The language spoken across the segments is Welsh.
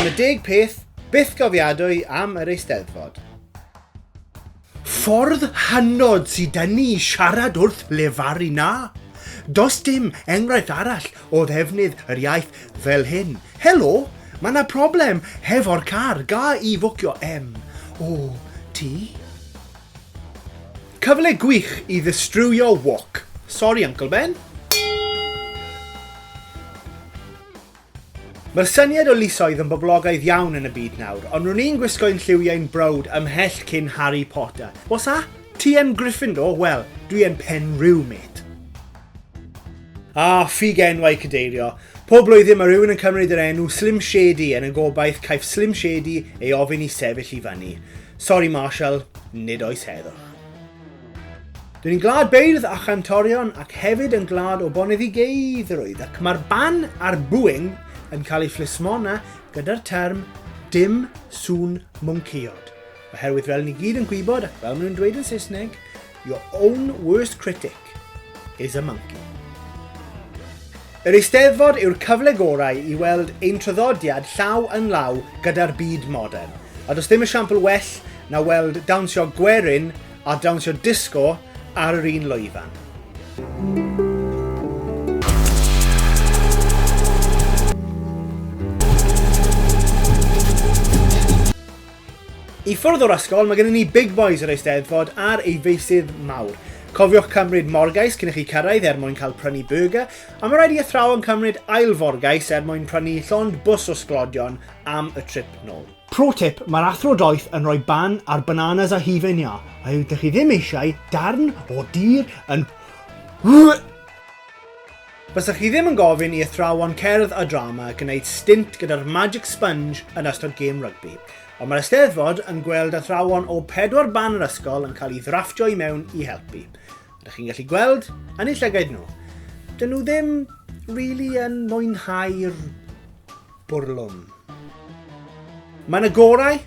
Dyma deg peth byth gofiadwy am yr Eisteddfod. Ffordd hynod sydd dyn ni i siarad wrth lefaru na. Does dim enghraifft arall o ddefnydd yr iaith fel hyn. Helo, mae yna problem hefo'r car, ga i fwcio em o ti? Cyfle gwych i ddistrywio wok. Sori Uncle Ben. Mae'r syniad o lysoedd yn boblogaidd iawn yn y byd nawr, ond ro'n i'n gwisgo'yn lliwiau'n browd ymhell cyn Harry Potter. What's that? Ti yn Gryffindor? Wel, dwi yn Penrhyw, mate. Ah, ffug enwau cadeirio. Pob blwyddyn mae rhywun yn cymryd yr enw Slim Shady yn y gobaith caiff Slim Shady ei ofyn i sefyll i fyny. Sori Marshall, nid oes heddwch. Dyn ni'n glad beirdd a chantorion ac hefyd yn glad o boneddigeiddrwydd ac mae'r ban a'r bwing yn cael ei phlismona gyda'r term dim sŵn mwncïod. Oherwydd fel ni gyd yn gwybod ac fel maen nhw'n dweud yn Saesneg, your own worst critic. Park is a Monkey. Yr Eisteddfod yw'r cyfle gorau i weld ein traddodiad llaw yn law gyda'r byd modern, a does dim esiampl well na weld dawnsio gwerin a dawnsio disgo ar yr un lwyfan. I ffwrdd o'r ysgol, mae gennym ni Big Boys yr Eisteddfod ar ei feysydd mawr. Cofiwch cymryd morgais cyn i chi cyrraedd er mwyn cael prynu burger, a mae rhaid i athrawon cymryd ail forgais er mwyn prynu llond bws o sglodion am y trip nôl. Pro tip, mae'r athro doeth yn rhoi ban ar bananas a hufen iâ, a ydych chi ddim eisiau darn o dir yn Bysa chi ddim yn gofyn i athrawon cerdd a drama gwneud stint gyda'r magic sponge yn ystod gêm rygbi, ond mae'r Eisteddfod yn gweld athrawon o pedwar ban yr ysgol yn cael ei ddrafftio i mewn i helpu. Ydych chi'n gallu gweld yn eu llygaid nhw? Dyn nhw ddim really yn mwynhau'r bwrlwm. Mae yna gorau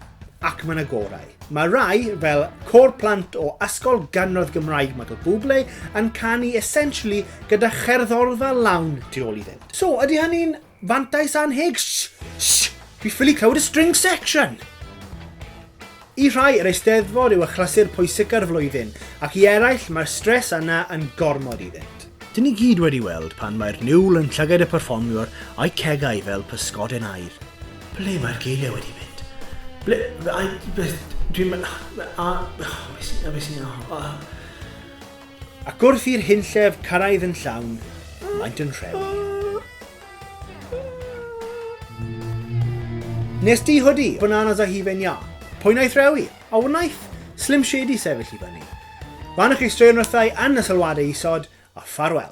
ac mae yna gorau. Mae rai, fel cor plant o Ysgol Ganradd Gymraeg Michael Bublé, yn canu essentially gyda cherddorfa lawn tu ôl iddynt. So, ydy hynny'n fantais anheg? Sh! Sh! Fi ffili clywed y string section! I rhai, yr Eisteddfod yw achlysur pwysica'r flwyddyn, ac i eraill, mae'r stres yna yn gormod iddynt. Dyn ni gyd wedi weld pan mae'r niwl yn llygaid y perfformiwr a'i cegau fel pysgodyn aur. Ble mae'r geiriau wedi mynd? Ble, ai, beth, dwi'n me-, a, a be sy'n, a, a. Ac wrth i'r hunllef cyrraedd yn llawn, maent yn rhewi. Nes di hoodie, bananas a hifen ia. Pwy naeth rewi? A wnaeth Slim Shady sefyll i fyny. Fan chi straeon wrthau yn y sylwadau isod, a ffarwel.